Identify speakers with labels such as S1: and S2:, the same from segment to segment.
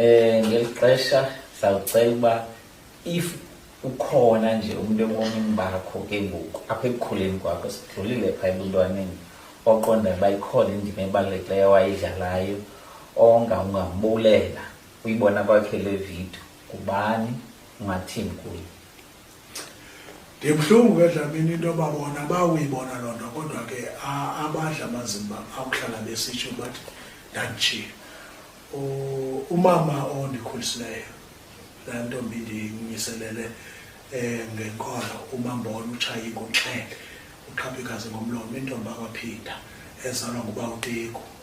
S1: Eh ngeli xesha sawucela uba if ukhona nje umuntu ebomini bakho ke ngoku apha ekukhuleni kwakho sidlulile phaa ebuntwaneni oqonda uba ikhona indima ebalulekileyo wayidlalayo onga ungambulela uyibona kwakhe le vidiyo kubani ungathini kuyo ndibuhlungu
S2: ke dlamini into yoba bona bawuyibona loo nto kodwa ke abadla amazimba akuhlala besitsho bathi ndanditshiye umama ondikhulisileyo laa ntombi ndiyinyiselele eh ngenkolo umambona utshaye inkunxele uqhaphikazi ngomlomo intombi akwaphinda ezalwa nguba uteko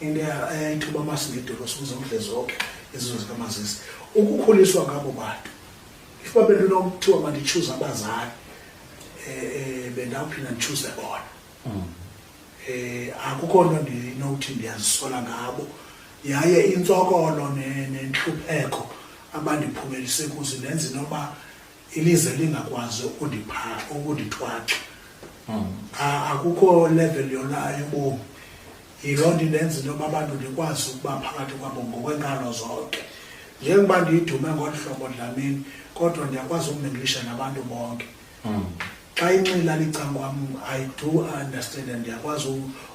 S2: into yayithuba amasinedolo sibuze umdle zonke izizo zikamazisi ukukhuliswa ngabo bantu if babenokuthiwa manditshuze abazali um bendawuphinda nditshuze bona um akukho nto ndinokuthi ndiyazisola ngabo yaye intsokolo nentlupheko abandiphumelise kuzi nenze noba ilize lingakwazi ukundipha ukundithwaxa hmm. akukho level yona yobomi yiloo nto indenza into yoba abantu ndikwazi ukuba phakathi kwabo ngokwenkalo zonke njengoba ndiyidume ngolu hlobo dlamini kodwa ndiyakwazi ukuminglisha nabantu bonke hmm. xa inxila licankwam i do understand and ndiyakwazi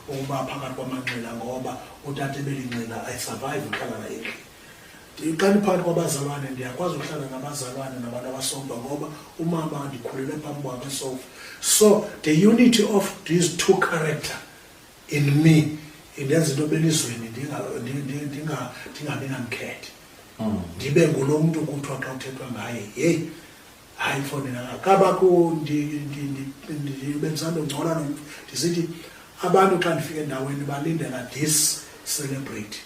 S2: ukuba phakathi kwamanxila ngoba utata ebelinxila i survive uhlala naye ndiqala phakathi kwabazalwane ndiyakwazi ukuhlala nabazalwane nabantu abasomba ngoba umama ndikhulele phambi kwakhe sofa so the unity of these two character in me indenza into belizweni ndingabi namkhethe mm. ndibe ngulo mntu kuthiwa xa kuthethwa ngaye yeyi hayi mfondini akakho kabakho bendisando ngcola nomntu ndisithi abantu xa ndifika endaweni balindela this celebrity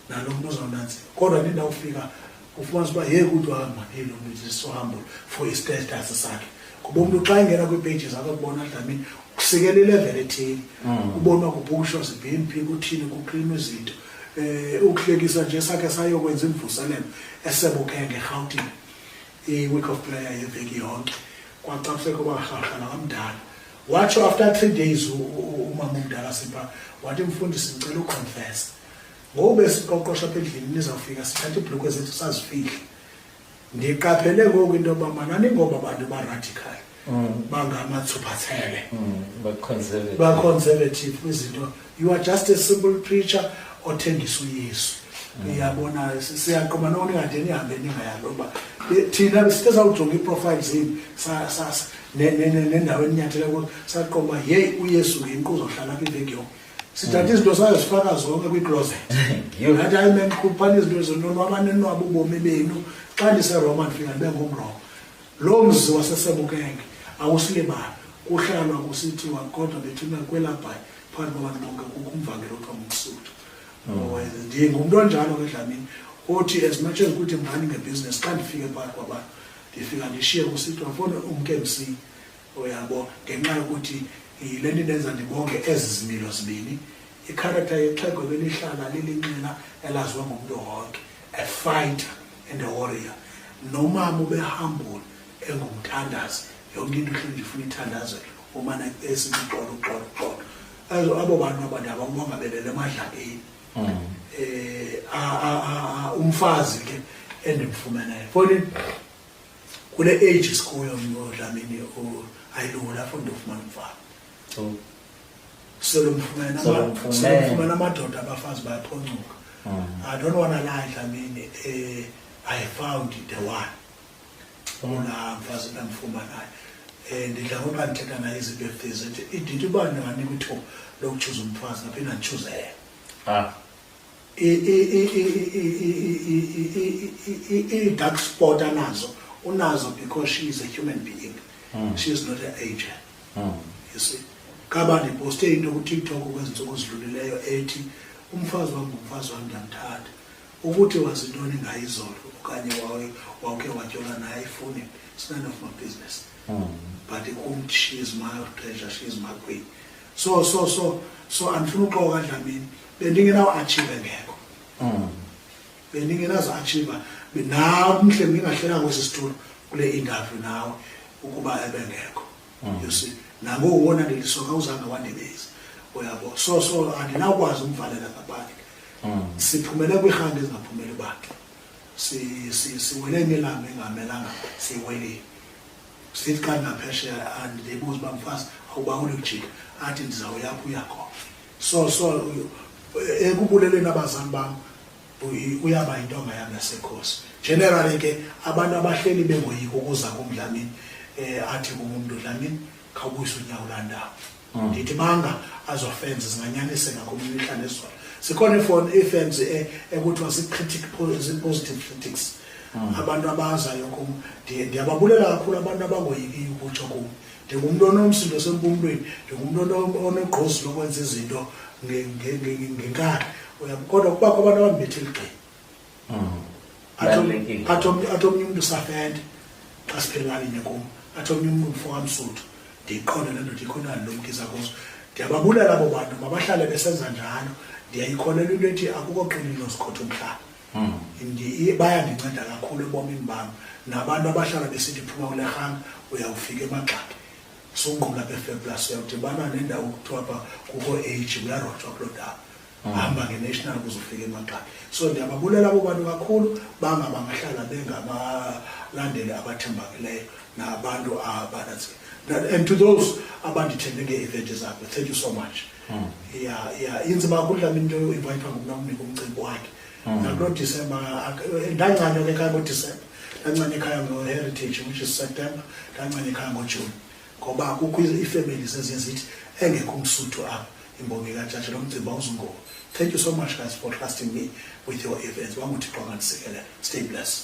S2: nalo mntu uzawunanzima kodwa ndindawufika ufumanisa uba yeke uthi wahamba nelo mntu ndisihambo for istatus sakhe kuba umntu xa engena kwiipeji zakho kubona dlamini kusikela ilevel ethile mm. ubona kubhusho zibheni phi kuthini kuklima izinto um ukuhlekisa nje sakhe sayokwenza imvuselelo esebukeke ngerhawutini i-week of player yeveki yonke kwacapseko barharha nakamdala watsho after three days umama omdala sipha wathi mfundisi ndicela uconfesa ngoku besiqoqosha apha endlini nizawufika sithatha iibhlukhwe zethu sazifihle ndiqaphele ngoku into yoba manani ngoba abantu baradical mm. bangamatsuphathele mm, baconservative kwizinto you are just a simple preacher othengisa uyesu mm. uyabona siyaqoma noko ningade nihambe ningayaloba thina besithe sawujonga iiprofile zini nendawo eninyathele kuyo saqoma yeyi uyesu ngenkuzo hlala apha iveki yonke sithatha izinto sayo zifaka zonke kwicloset ngathi hayi men khuphani izinto zononwabane nonwaba ubomi benu xa ndiseroma ndifika ndibe ngumroma loo mzi wasesebukenge awusilibali kuhlalwa kusithiwa kodwa bethuna kwelabhayi phambi kwabantu bonke kukho umvangelo othiwa ngumsuthu mm. ndiye ngumntu onjalo ke dlamini othi as much as kuthi mani ngebhizinesi xa ndifike phakathi kwabantu ndifika ndishiye kusithiwa fona umke msi uyabo ngenxa yokuthi yile nto indenza ndibonge ezi zimilo zibini ikharektha yexhego ebelihlala lilinxila elaziwa ngumntu wonke a fighter and a warrior nomama ubehambula engumthandazi yonke into ihleli ndifuna ithandaze umana esithi xolo xolo xolo azo abo bantu abantu ababonga belele emadlakeni mm. eh umfazi ke endimfumeneyo fonini kule age sikuyo ngodlamini ayilula fo ndofumana umfana oh. solomfumana solomfumana amadoda abafazi bayaphoncuka oh. i don't want to lie dlamini eh, i found the one olaa mfazi ndamfumanayo um eh, ndidla ngoba ndithetha naye izinto efezi ndithi uba ndinganika ithuba lokutshuza umfazi ngaphinde nditshuze yena ah. ii-dark spot anazo unazo because she is a human being mm. she is not an angel mm. you see kaba ndiposte into kutiktok kwezi ntsuku zidlulileyo ethi umfazi wam ngumfazi wam ndiyamthanda ukuthi wazintoni ngayo izolo okanye wawuke watyola naye ayifuni it's none of my business mm. but kum she is my treasure she is my queen so so so so andifuna uxoka dlamini bendingenawo achieve ngekho mm. bendingenazo achieve nam mhle ndingahlela kwesi situlo kule interview nawe ukuba ebengekho mm. you see nangoku wona ndilisoka uzange wandibezi uyabo so so andinawukwazi umvalela ngaphandle mm. siphumele kwiirhanga ezingaphumeli bakhe siwele imilanga engamelanga siwelile Sithi xa ndingaphesheya andilebuza uba mfazi awubawuli ukujika athi ndizawuyapho uyakhona so so ekubuleleni abazali bam uyaba yintonga yam yasekhosi generally ke abantu abahleli bengoyiki ukuza kumdlamini um athi kum umntu dlamini khawubuyise unyawo landawo hmm. ndithi banga azofenz zinganyaniseka kumihla nezolo sikhona ifoni ifenz e, ekuthiwa zipositive critics hmm. abantu abazayo kum ndiyababulela kakhulu abantu abangoyikiyo ukutsho kum ndingumntu onomsindo sempumlweni ndingumntu onegqozi lokwenza izinto ngenkani kodwa kubakho abantu abambethe ligxini athi omnye umntu safende xa siphelelani nye kum athi omnye umntu mfo kamsuthu ndiyiqonde le ndoda ikhona ndilumkisa kuzo ndiyababulala abo bantu mabahlale besenza njalo ndiyayikholelwa into ethi akukho qini nozikhotha umhlaba hmm. bayandinceda kakhulu ebomini bam nabantu abahlala besithi phuma kule rhanga uyawufika emagxaki sungqula befeblas uyawudibana nendawo kuthiwa pha kukho age uyarojwa kuloo ndawo hamba nge-national kuze ufike emagxabi so ndiyababulela abo bantu kakhulu banga bangahlala bengabalandeli abathembakeleyo nabantu abananzi and to those abandithembe ngee-event zakho thank you so much hmm. ya ya inzima kakhulu lami into yoinvayithwa ngumna umnika umcimbi wakhe hmm. nakulo disemba ndancanywa ke ekhaya ngodisemba ndancanya ekhaya ngo-heritage which is september ndancanya ekhaya ngojuni ngoba kukho iifemeli zeziye zithi engekho umsuthu apha imbongi katshatsha lo mcimbi awuzungoba thank you so much guys for trusting me with your events wanguthixo angandisikelela stay blessed